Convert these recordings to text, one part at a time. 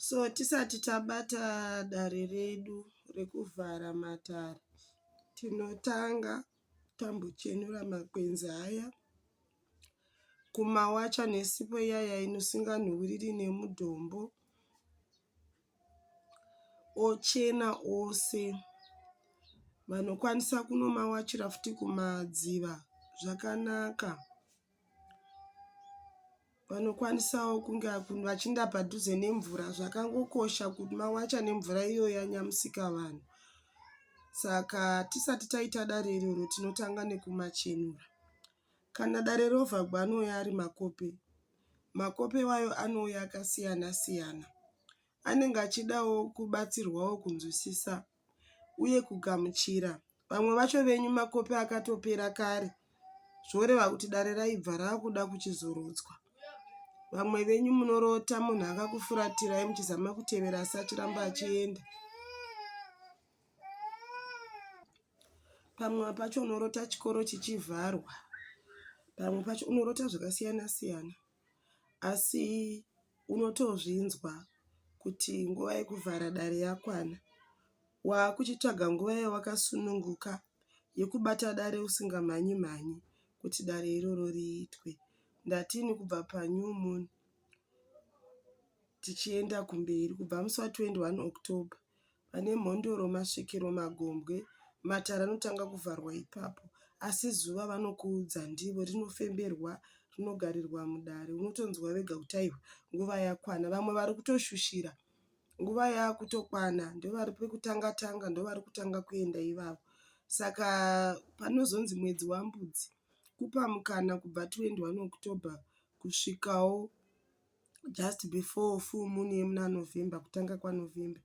So tisati tabata dare redu rekuvhara matare tinotanga tambochenura makwenzi aya kumawacha nesipo iyaya inosinganhuwiriri nemudombo ochena ose. Vanokwanisa kunomawachira futi kumadziva zvakanaka. Vanokwanisawo kunge vachinda padhuze nemvura zvakangokosha kuti mawacha nemvura iyo yanya Musikavanhu saka hatisati taita dare iroro tinotanga nekumachenura. Kana dare rovharwa anouya ari makope. Makope iwayo anouya akasiyana siyana. Anenge achidawo kubatsirwawo kunzwisisa uye kugamuchira vamwe vacho venyu makope akatopera kare zvoreva kuti dare raibva rakuda kuchizorodzwa vamwe venyu munorota munhu akakufuratirai muchizama kutevera asi achiramba achienda pamwe pacho unorota chikoro chichivharwa pamwe pacho unorota zvakasiyana siyana asi unotozvinzwa kuti nguva yekuvhara dare yakwana. Wakuchitsvaga nguva yawakasununguka yekubata dare usinga mhanyi mhanyi kuti dare iroro riitwe. Ndati ini kubva pa new moon tichienda kumberi kubva musi wa 21 October. pane mhondoro masvikiro magombwe matare anotanga kuvharwa ipapo asi zuva vanokuudza ndivo rinofemberwa rinogarirwa mudare unotonzwa vega kuti aiwa nguva yakwana vamwe vari kutoshushira nguva yakutokwana ndovari kutanga tanga ndovari kutanga kuenda ivavo saka panozonzi mwedzi waMbudzi kupa mukana kubva 21 October kusvikawo just before full moon yemuna November kutanga kwaNovember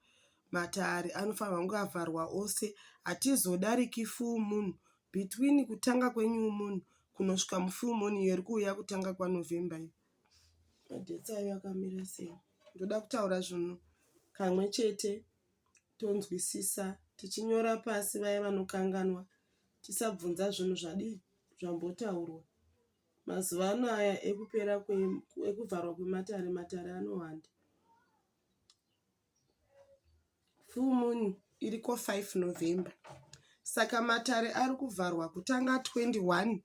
matare anofanirwa kunge avharwa ose hatizodariki full moon between kutanga kwenew moon kunosvika mufull moon iyo iri kuuya kutanga kwaNovember iyo madates ayo akamira sei ndoda kutaura zvinhu kamwe chete tonzwisisa tichinyora pasi vaya vanokanganwa tisabvunza zvinhu zvadii zvambotaurwa Mazuva ano aya ekupera ekuvharwa kwematare, matare anowanda. Full moon iriko 5 November. Saka matare ari kuvharwa kutanga 21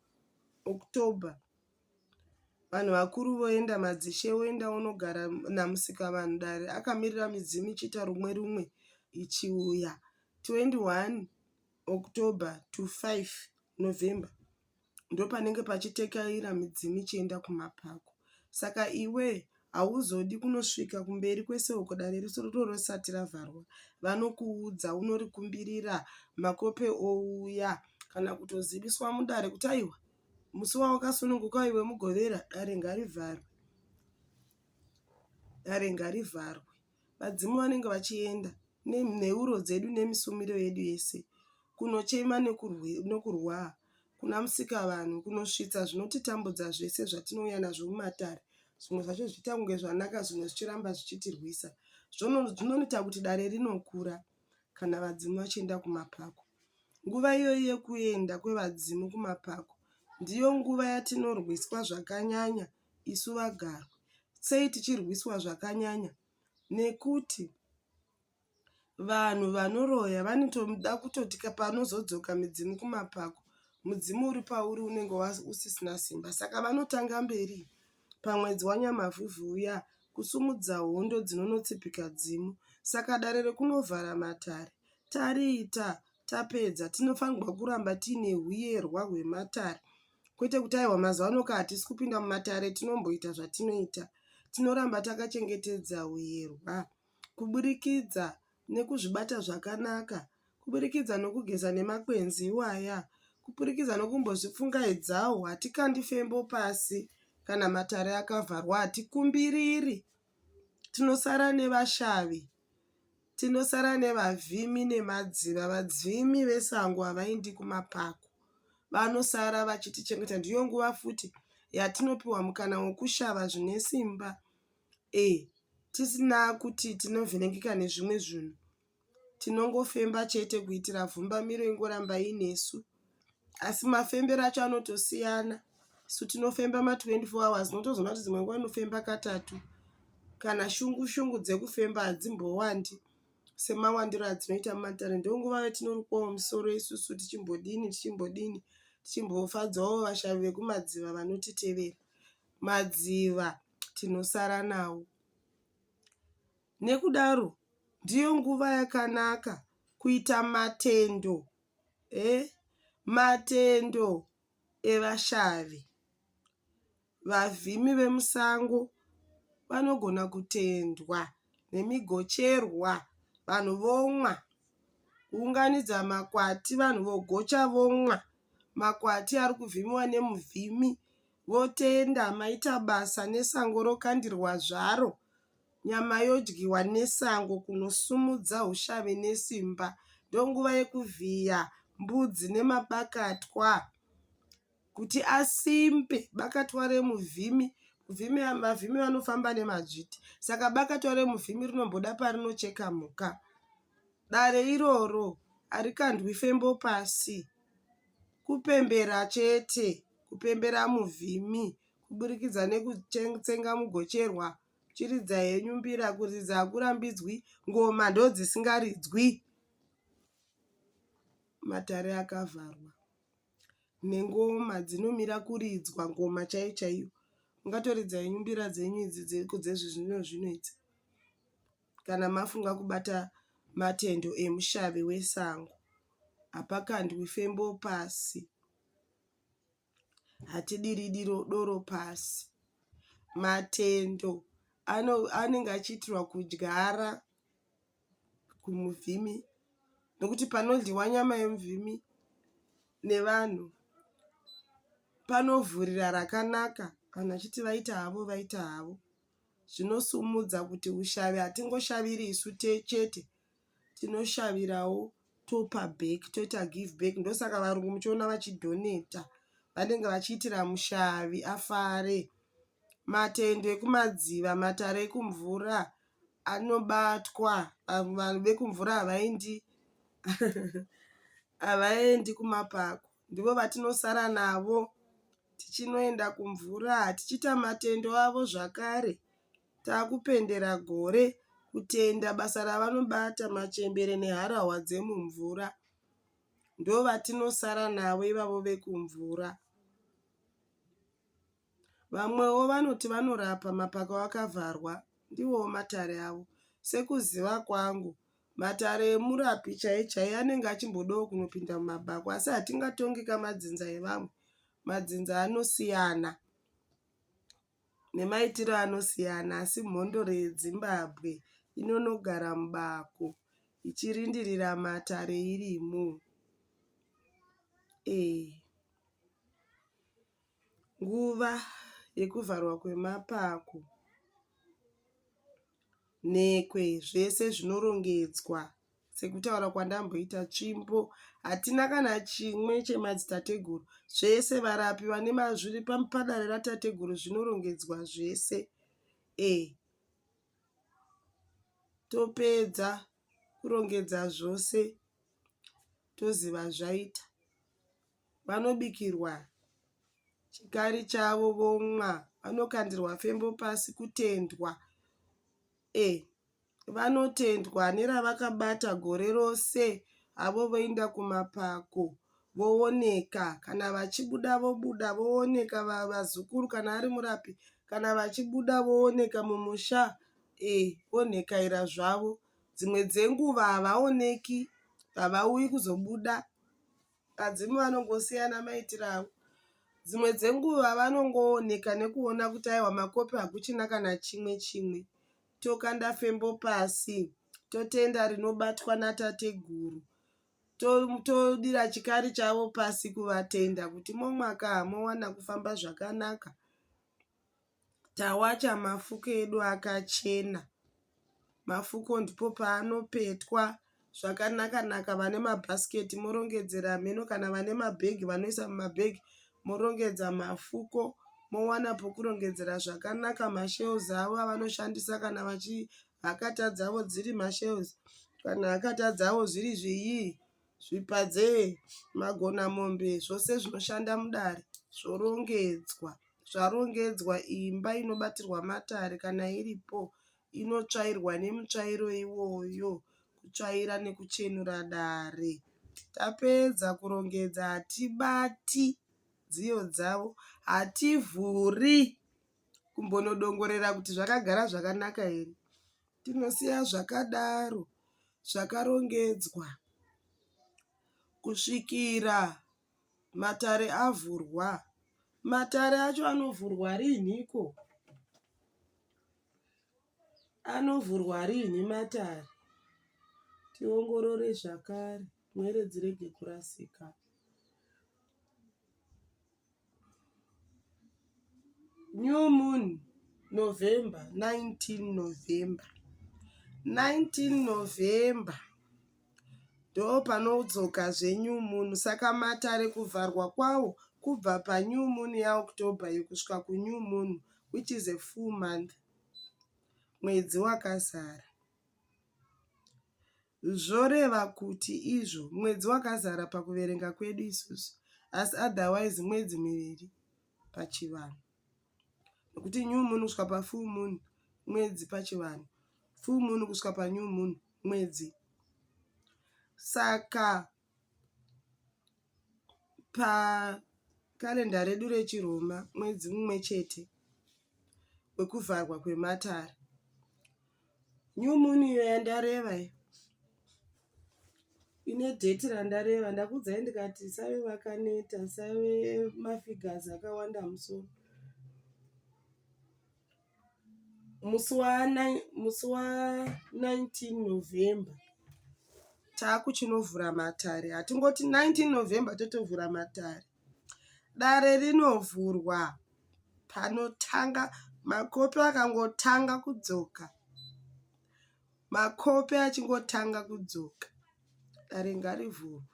October. Vanhu vakuru voenda, madzishe voenda vonogara namusika vanhu dare akamirira midzimu ichiita rumwe rumwe ichiuya 21 October to 5 November. ndopanenge pachitekaira midzimu ichienda kumapako saka iwe hauzodi kunosvika kumberi kwese uko dare riso rorosati ravharwa vanokuudza unorikumbirira makope ouya kana kutoziviswa mudare kuti aiwa musi wawakasununguka iwe mugovera dare ngarivharwe dare ngarivharwe Vadzimu vanenge vachienda nenheuro dzedu nemisumiro yedu yese kunochema nokurwaa kuna Musikavanhu kunosvitsa zvinotitambudza zvese zvatinouya nazvo mumatare. Zvimwe zvacho zvichiita kunge zvanaka zvimwe zvichiramba zvichitirwisa. Zvinoita kuti dare rinokura kana vadzimu vachienda kumapako. Nguva iyoyi yekuenda kwevadzimu kumapako ndiyo nguva yatinorwiswa zvakanyanya isu vagarwi sei tichirwiswa zvakanyanya nekuti vanhu vanoroya vanotoda kutoti panozodzoka midzimu kumapako mudzimu uri pauri unenge usisina simba saka vanotanga mberi pamwedzi wanyamavhuvhu uya kusumudza hondo dzinonotsipika dzimu saka dare rekunovhara matare tariita tapedza tinofanirwa kuramba tiine huyerwa hwematare kwete kuti aiwa mazuva ano ka hatisi kupinda mumatare tinomboita zvatinoita tinoramba takachengetedza huyerwa kuburikidza nekuzvibata zvakanaka kuburikidza nokugeza nemakwenzi iwaya kupurikidza nokumbozvipfungaidzawo hatikandi fembo pasi kana matare akavharwa hatikumbiriri tinosara nevashavi Tinosara nevavhimi nemadziva. Vadzvimi vesango havaindi kumapako. Vanosara vachitichengeta. Ndiyo nguva futi yatinopiwa mukana wekushava zvine simba ee tisina kuti tinovhiringika nezvimwe zvinhu. Tinongofemba chete kuitira vhumbamiro ingoramba inesu. asi mafembero acho anotosiyana isu tinofemba ma 24 hours unotozoona kuti dzimwe nguva inofemba katatu kana shungu shungu dzekufemba hadzimbowandi semawandiro adzinoita mumatare ndonguva yatinorukwawo musoro isusu tichimbodini tichimbodini tichimbofadzawo vashavi vekumadziva vanotitevera madziva tinosara nawo nekudaro ndiyo nguva yakanaka kuita matendo Matendo evashavi. Vavhimi vemusango vanogona kutendwa nemigocherwa vanhu vomwa. Kuunganidza makwati vanhu vogocha vomwa. Makwati ari kuvhimiwa nemuvhimi votenda maita basa nesango rokandirwa zvaro. Nyama yodyiwa nesango kunosimudza ushavi nesimba. Ndonguva yekuvhiya mbudzi nemabakatwa kuti asimbe. Bakatwa remuvhimi, vavhimi vanofamba nemadzviti saka bakatwa remuvhimi rinomboda parinocheka mhuka. Dare iroro harikandwi fembo pasi, kupembera chete, kupembera muvhimi kuburikidza nekutsenga mugocherwa. Chiridza henyu mbira kuridza hakurambidzwi ngoma ndodzisingaridzwi. Matare akavharwa nengoma dzinomira kuridzwa ngoma chaiyo chaiyo. Mungatoridza henyu mbira dzenyu idzi dzezvizvino zvino idzi kana mafunga kubata matendo emushavi wesango. Hapakandwi fembo pasi. hatidiri doro pasi. Matendo anenge achiitirwa kudyara kumuvhimi nokuti panodyiwa nyama yemuvhimi nevanhu panovhurira rakanaka vanhu vachiti vaita havo vaita havo. Zvinosimudza kuti ushavi hatingoshaviri isu chete. tinoshavirawo topa back toita give back ndosaka varungu muchiona vachidhoneta vanenge vachiitira mushavi afare matendo ekumadziva matare ekumvura anobatwa vanhu vekumvura havaendi havaendi kumapako ndivo vatinosara navo tichinoenda kumvura tichiita matendo avo zvakare takupendera gore kutenda basa ravanobata machembere neharahwa dzemumvura ndovatinosara navo ivavo vekumvura vamwewo vanoti vanorapa mapako akavharwa ndivowo matare avo sekuziva kwangu matare emurapi chaiye chaiye anenge achimbodawo kunopinda mumabhako asi hatingatongi kamadzinza evamwe madzinza anosiyana nemaitiro anosiyana asi mhondoro yeDzimbabwe inonogara mubako ichirindirira matare irimo. Nguva yekuvharwa kwemapako, nhekwe zvese zvinorongedzwa. Sekutaura kwandamboita tsvimbo, hatina kana chimwe chemadzitateguru. Zvese varapi vane zviri padare ratateguru zvinorongedzwa zvese. Eh. Topedza kurongedza zvose toziva zvaita. Vanobikirwa chikari chavo vomwa, vanokandirwa fembo pasi kutendwa. Eh. vanotendwa neravakabata gore rose avo voinda kumapako vooneka kana vachibuda vobuda vooneka vazukuru kana ari murapi kana vachibuda vooneka mumusha eh, vonhekaira zvavo dzimwe dzenguva havaoneki havauyi kuzobuda vadzimu vanongosiyana maitiro avo dzimwe dzenguva vanongooneka nekuona kuti aiwa makopi hakuchina kana chimwe chimwe tokanda fembo pasi totenda rinobatwa natateguru todira chikari chavo pasi kuvatenda kuti momwaka hamowana kufamba zvakanaka tawacha mafuko edu akachena mafuko ndipo paanopetwa pa zvakanaka naka vane mabasket morongedzera hameno kana vane mabag vanoisa mumabag morongedza mafuko mowana pokurongedzera zvakanaka mashells avo avanoshandisa kana vachi hakata dzavo dziri mashells kana hakata dzavo zviri zvinyii zvipadze magona mombe zvose zvinoshanda mudare zvorongedzwa zvarongedzwa imba inobatirwa matare kana iripo. inotsvairwa nemutsvairo iwoyo kutsvaira nekuchenura dare. Tapedza kurongedza hatibati dziyo dzavo, hativhuri kumbonodongorera kuti zvakagara zvakanaka here. Tinosiya zvakadaro zvakarongedzwa kusvikira. Matare avhurwa. Matare acho anovhurwa riinhiko? Anovhurwa riinhi matare? Tiongorore zvakare pwere dzirege kurasika. New moon November 19 November 19 November. Ndopanodzoka zve new moon saka matare kuvharwa kwawo kubva pa new moon ya October iyo kusvika ku new moon which is a full month mwedzi wakazara. Zvoreva kuti izvo mwedzi wakazara pakuverenga kwedu isusu asi otherwise mwedzi miviri. pachivanhu nekuti new moon kusvika pafull moon mwedzi pachivanhu full moon kusvika panew moon mwedzi saka pakarenda redu rechiroma mwedzi mumwe chete wekuvharwa kwematare New moon iyo yandareva iyo ine date randareva ndakuudzai ndikati musave vakaneta musave mafigures akawanda mumusoro. Musi wa nine musi wa nineteen November takuchinovhura matare hatingoti nineteen November totovhura matare. Dare rinovhurwa panotanga makope akangotanga kudzoka. Makope achingotanga kudzoka. Dare ngarivhurwe.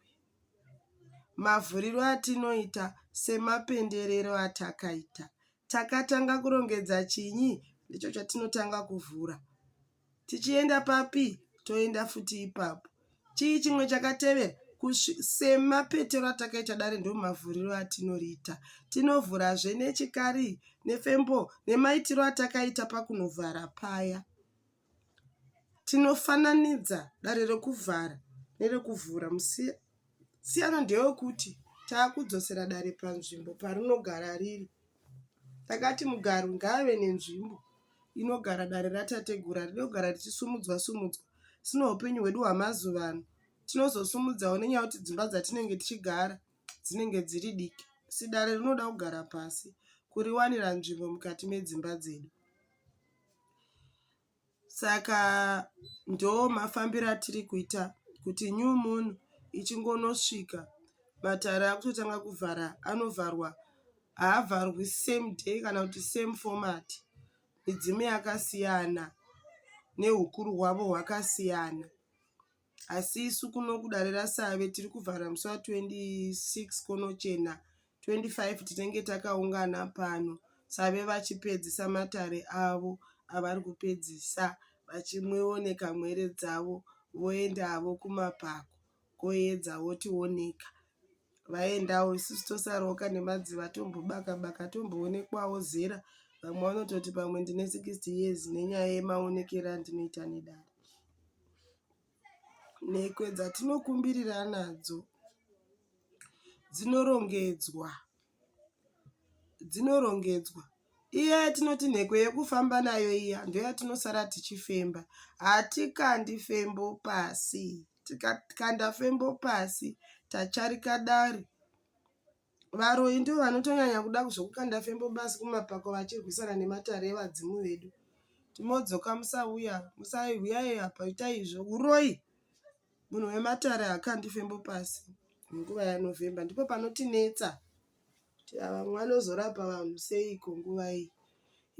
Mavhuriro atinoita semapenderero atakaita. Takatanga kurongedza chinyi ndicho chatinotanga kuvhura. Tichienda papi? Toenda futi ipapo. Chii chimwe chakatevera? Kusvi, semapetero atakaita dare ndomavhuriro atinoriita. Tinovhurazve nechikari, nefembo, nemaitiro atakaita pakunovhara paya. Tinofananidza dare rekuvhara nerekuvhura, musiya? Siyano ndeyokuti takudzosera dare panzvimbo parinogara riri. Takati mugarwi ngaave nenzvimbo inogara dare ratateguru iri rinogara richisumudzwa sumudzwa asi neupenyu hwedu hwemazuva ano tinozosumudzawo nenyaya yekuti dzimba dzatinenge tichigara dzinenge dziri diki asi dare rinoda kugara pasi kuriwanira nzvimbo mukati medzimba dzedu. Saka ndoo mafambiro atiri kuita kuti new moon ichingonosvika matare akutotanga kuvhara anovharwa haavharwi same day kana kuti same format midzimu yakasiyana nehukuru hwavo hwakasiyana. asi isu kuno kudare rasave tiri kuvhara musi wa 26 konochena 25 tinenge takaungana pano save vachipedzisa matare avo avari kupedzisa vachimwewo nekamhere dzavo voenda havo kumapako koedza wotioneka. vaendawo isusu tosaroka nemadziva tombobaka baka tomboonekwawo zera vamwe vanototi pamwe ndine 60 years nenyaya yemaonekero andinoita nedare nhekwe dzatinokumbirira nadzo dzinorongedzwa dzinorongedzwa iya yatinoti nhekwe yekufamba nayo iya ndoyatinosara tichifemba hatikandi fembo pasi tikakanda fembo pasi tatsvarika dare. Varoyi ndivo vanotonyanya kuda zvekukanda fembo pasi kumapako vachirwisana nematare evadzimu vedu. Timodzoka musauya, musai huyai apa itai izvo. Huroyi munhu wematare hakandi fembo pasi nguva yanovhemba ndipo panotinetsa kuti vamwe vanozorapa vanhu seiko nguva iyi.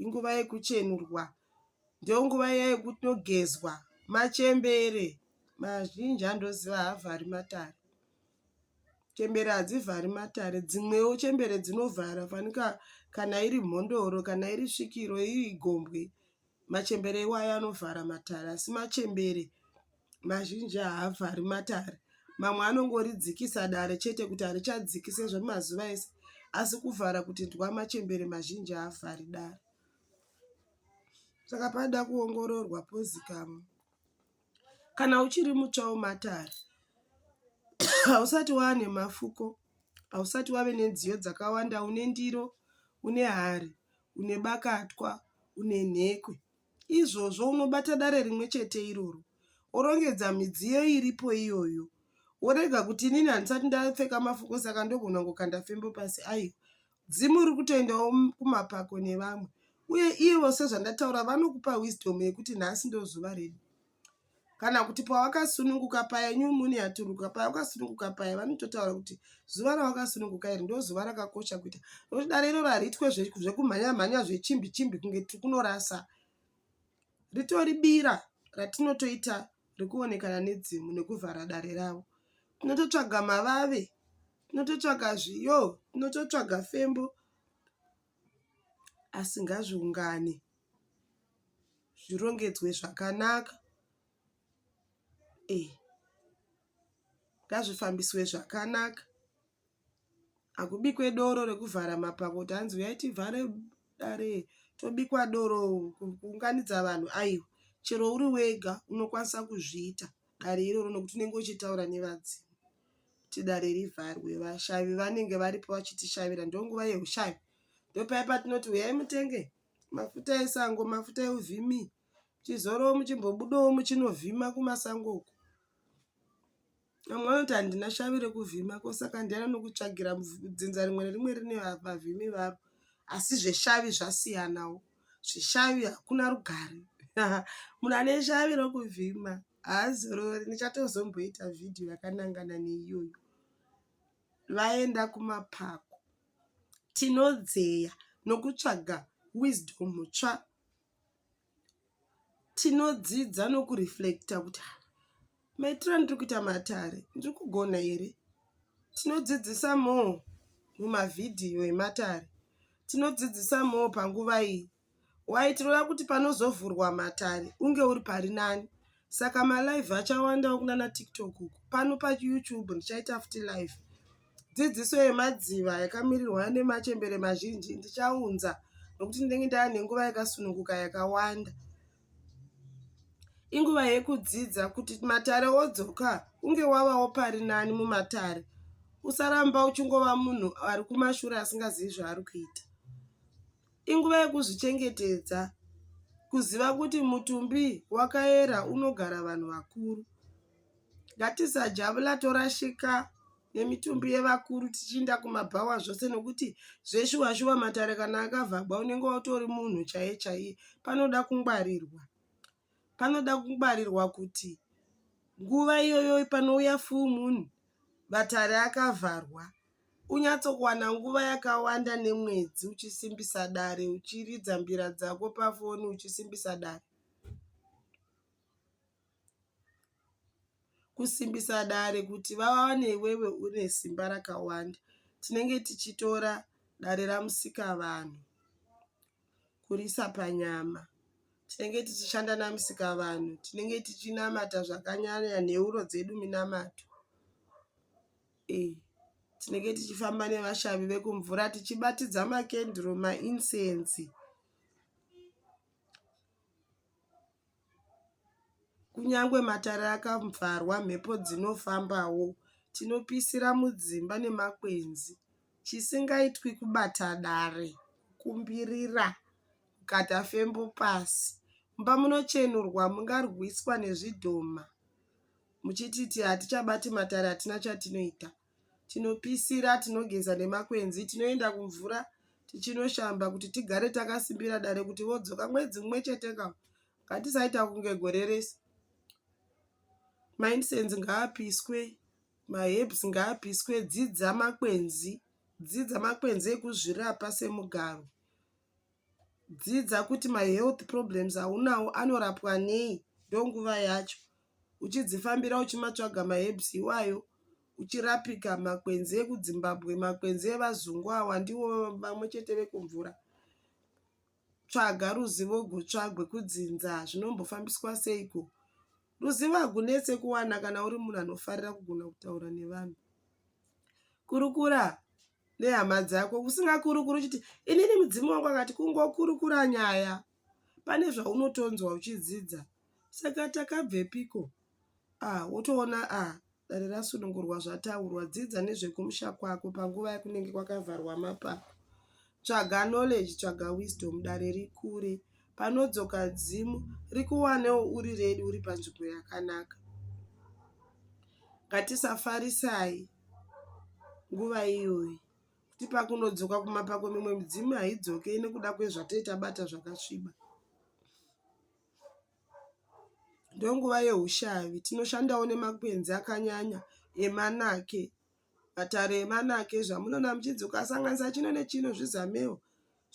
Inguva yekuchenurwa Ndonguva iya yekutogezwa machembere mazhinji andoziva haavhari matare. Chembere hadzivhari matare dzimwewo chembere dzinovhara fanika kana iri mhondoro kana iri svikiro iri gombwe machembere iwayo anovhara matare asi machembere mazhinji haavhari matare. Mamwe anongoridzikisa dare chete kuti harichadziki sezvemazuva ese asi kuvhara kuti ndwa machembere mazhinji haavhari dare. Saka panoda kuongororwa pozikamwa. Kana uchiri mutsva wematare hausati wava nemafuko, hausati wave nenziyo dzakawanda, une ndiro, une hari, une bakatwa, une nhekwe. Izvozvo unobata dare rimwe chete iroro worongedza midziyo iripo iyoyo worega kuti inini handisati ndapfeka mafuko saka ndogona kukanda fimbo pasi, aiwa. Dzimu riri kutoendawo kumapako nevamwe uye ivo sezvandataura vanokupa wisdom yekuti nhasi ndozuva redu kana kuti pawakasununguka paya new moon yaturuka paya wakasununguka paya vanototaura kuti zuva rawakasununguka iri ndozuva rakakosha kuita nokuti dare iroro hariitwe zvekumhanya mhanya zvechimbi chimbi kunge tiri kunorasa ritori bira ratinotoita rekuonekana nedzimu nekuvhara dare ravo tinototsvaga mavave tinototsvaga zviyo tinototsvaga fembo asi ngazviungane zvirongedzwe zvakanaka e ngazvifambiswe zvakanaka hakubikwe doro rekuvhara mapako kuti hanzi uyai tivhare dare tobikwa doro kuunganidza vanhu aiwa chero uri wega unokwanisa kuzviita dare iroro nokuti unenge uchitaura nevadzimu kuti dare rivharwe vashavi vanenge varipo vachitishavira ndonguva yehushavi ndopaya patinoti huyai mutenge mafuta esango mafuta euvhimi chizorowo muchimbobudawo muchinovhima kumasango uko vamwe vanoti handina shavi rekuvhima ko saka ndiani anokutsvagira dzinza rimwe nerimwe rine vavhimi varo asi zveshavi zvasiyanawo zveshavi hakuna rugare munhu ane shavi rekuvhima haazorori ndichatozomboita vhidhiyo yakanangana neiyoyo vaenda kumapako tinodzeya nokutsvaga wisdom tsva tinodzidza nokureflecta kuti ah, maitiro andiri kuita matare ndiri kugona here tinodzidzisa moo mumavhidhiyo ematare tinodzidzisa moo panguva iyi waitireva kuti panozovhurwa matare unge uri pari nani saka malive achawandawo kunana tiktok uku pano payoutube ndichaita futi live dzidziso yemadziva yakamirirwa nemachembere mazhinji ndichaunza nokuti ndinenge ndava nenguva yakasununguka yakawanda inguva yekudzidza kuti matare odzoka unge wavawo pari nani mumatare usaramba uchingova munhu ari kumashure asingazivi zvaari kuita Inguva yekuzvichengetedza kuziva kuti mutumbi wakaera unogara vanhu vakuru. Ngatisajabula torashika nemitumbi yevakuru tichiinda kumabhawa zvose nekuti zveshuwa shuwa matare kana akavhagwa unenge utori munhu chaiye chaiye panoda kungwarirwa. panoda kungwarirwa kuti nguva iyoyo panouya full moon matare akavharwa unyatsokuwana nguva yakawanda nemwedzi uchisimbisa dare uchiridza mbira dzako pafoni uchisimbisa dare. kusimbisa dare kuti vawane iwewe une simba rakawanda tinenge tichitora dare raMusikavanhu kuriisa panyama. Tinenge tichishanda naMusikavanhu, tinenge tichinamata zvakanyanya neuro dzedu minamato. Eeh tinenge tichifamba nevashavi vekumvura tichibatidza makenduru maincense. Kunyangwe matare akavharwa mhepo dzinofambawo. Tinopisira mudzimba nemakwenzi. Chisingaitwi kubata dare, kumbirira, kukata fembo pasi. Mumba munochenurwa mungarwiswa nezvidhoma muchititi hatichabati matare hatina chatinoita. tinopisira, tinogeza nemakwenzi, tinoenda kumvura tichinoshamba kuti tigare takasimbira dare kuti vodzoka mwedzi mumwe chete ka ngatisaita kunge gore rese maincense ngaapiswe maherbs ngaapiswe dzidza makwenzi dzidza makwenzi ekuzvirapa semugaro Dzidza kuti ma health problems aunawo anorapwa nei ndonguva yacho uchidzifambira uchimatsvaga ma herbs iwayo uchirapika makwenzi ekudzimbabwe makwenzi evazungu awa ndiwo pamwe chete vekumvura tsvaga ruzivo gutsva gwekudzinza zvinombofambiswa seiko ruzivo hagunetse kuwana kana uri munhu anofarira kugona kutaura nevanhu kurukura nehama dzako usingakurukuri uchiti inini mudzimu wangu akati kungokurukura nyaya pane zvaunotonzwa uchidzidza saka takabvepiko ah wotoona ah dare rasunungurwa zvataurwa dzidza nezvekumusha kwako panguva yakunenge kwakavharwa mapako tsvaga knowledge tsvaga wisdom dare rikure panodzoka dzimu rikuwanewo uri redi uri panzvimbo yakanaka ngatisafarisai nguva iyoyi kuti pakunodzoka kumapako mimwe midzimu haidzoke nekuda kwezvatinenge tabata zvakasviba. Ndonguva yehushavi tinoshandawo nemakwenzi akanyanya emanake matare emanake zvamunoona muchidzoka sanganisa chino nechino zvizamewo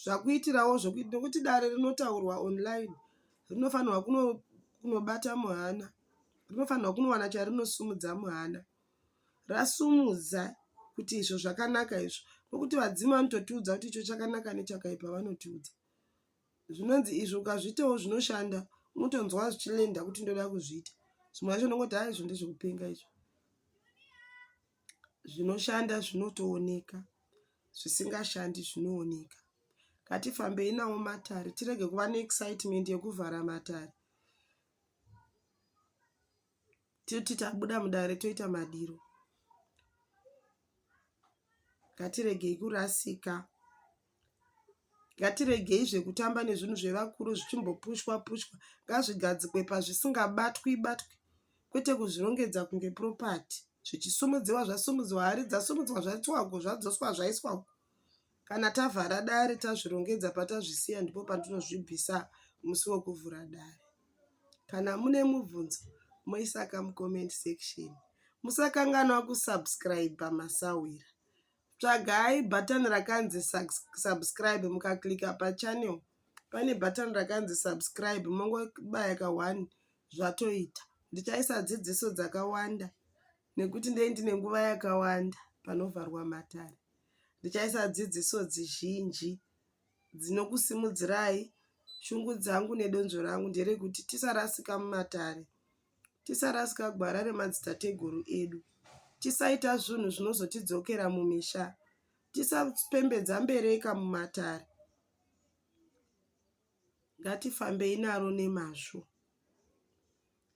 zvakuitirawo zvekuti nekuti dare rinotaurwa online rinofanirwa kunobata muhana rinofanirwa kunowana charinosimudza muhana. rasumudza kuti izvo zvakanaka izvo nokuti vadzimu vanototiudza kuti icho chakanaka nechakaipa vanotiudza zvinonzi izvo ukazviitawo zvinoshanda unotonzwa zvichilenda kuti ndoda kuzviita zvimwe zvacho unongoti ha izvo ndezvekupenga izvo zvinoshanda zvinotooneka zvisingashandi zvinooneka ngatifambei nawo matare tirege kuva neexcitement yekuvhara matare titi tabuda mudare toita madiro ngatiregei kurasika ngatiregei zvekutamba nezvinhu zvevakuru zvichimbopushwa pushwa ngazvigadzikwe pazvisingabatwi batwi kwete kuzvirongedza kunge propati zvichisumudziwa zvasumudziwa hari dzasumudzwa zvaitwa uko zvadzoswa zvaiswa uko Kana tavhara dare tazvirongedza patazvisiya ndipo patinozvibvisa musi wekuvhura dare. Kana mune mubvunzo moisa ka mucomment section. Musakanganwa kusubscriber masahwira. Tsvagai button rakanzi subscribe mukaklicka pachannel pane button rakanzi subscribe mongobaya ka one zvatoita. Ndichaisa dzidziso dzakawanda. Nekuti ndee ndine nguva yakawanda panovharwa matare, ndichaisa dzidziso dzizhinji dzinokusimudzirai. Shungu dzangu nedonzvo rangu nderekuti tisarasika mumatare, tisarasika gwara remadzitateguru edu, tisaita zvinhu zvinozotidzokera mumisha, tisapembedza mbereka mumatare, ngatifambei naro nemazvo.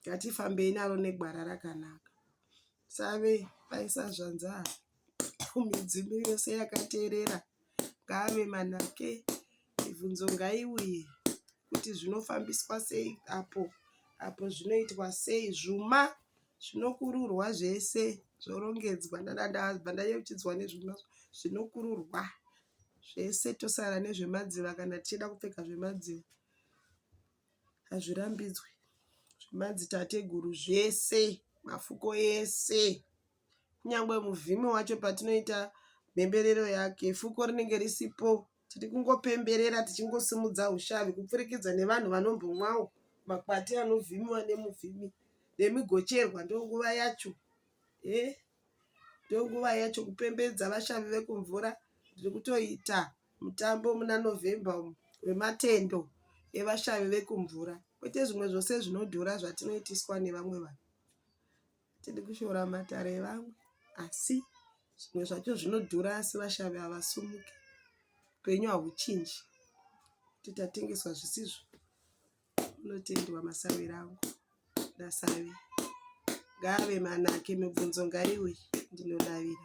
ngatifambei naro negwara rakanaka save vaisazvanza midzimu yose yakateerera ngaave manake mibvunzo ngaiuye kuti zvinofambiswa sei apo apo zvinoitwa sei zvuma zvinokururwa zvese zvorongedzwa ndadabva ndayeuchidzwa nezvuma zvinokururwa zvese tosara nezvemadziva kana tichida kupfeka zvemadziva hazvirambidzwe zvemadzitateguru zvese mafuko ese kunyangwe muvhimi wacho patinoita mhemberero yake fuko rinenge risipo tiri kungopemberera tichingosimudza ushavi kupfurikidza nevanhu vanombomwawo makwati anovhimiwa nemuvhimi nemigocherwa ndonguva yacho e eh? ndonguva yacho kupembedza vashavi vekumvura tiri kutoita mutambo muna November umu wematendo evashavi vekumvura kwete zvimwe zvose zvinodhura zvatinoitiswa nevamwe vanhu tiri kushora matare evamwe asi zvimwe zvacho zvinodhura asi vashavi havasumuki upenyu hahuchinji kuti tatengeswa zvisizvo unotendwa masawi rangu ndasavi ngaave manake mibvunzo ngaiuye ndinodavira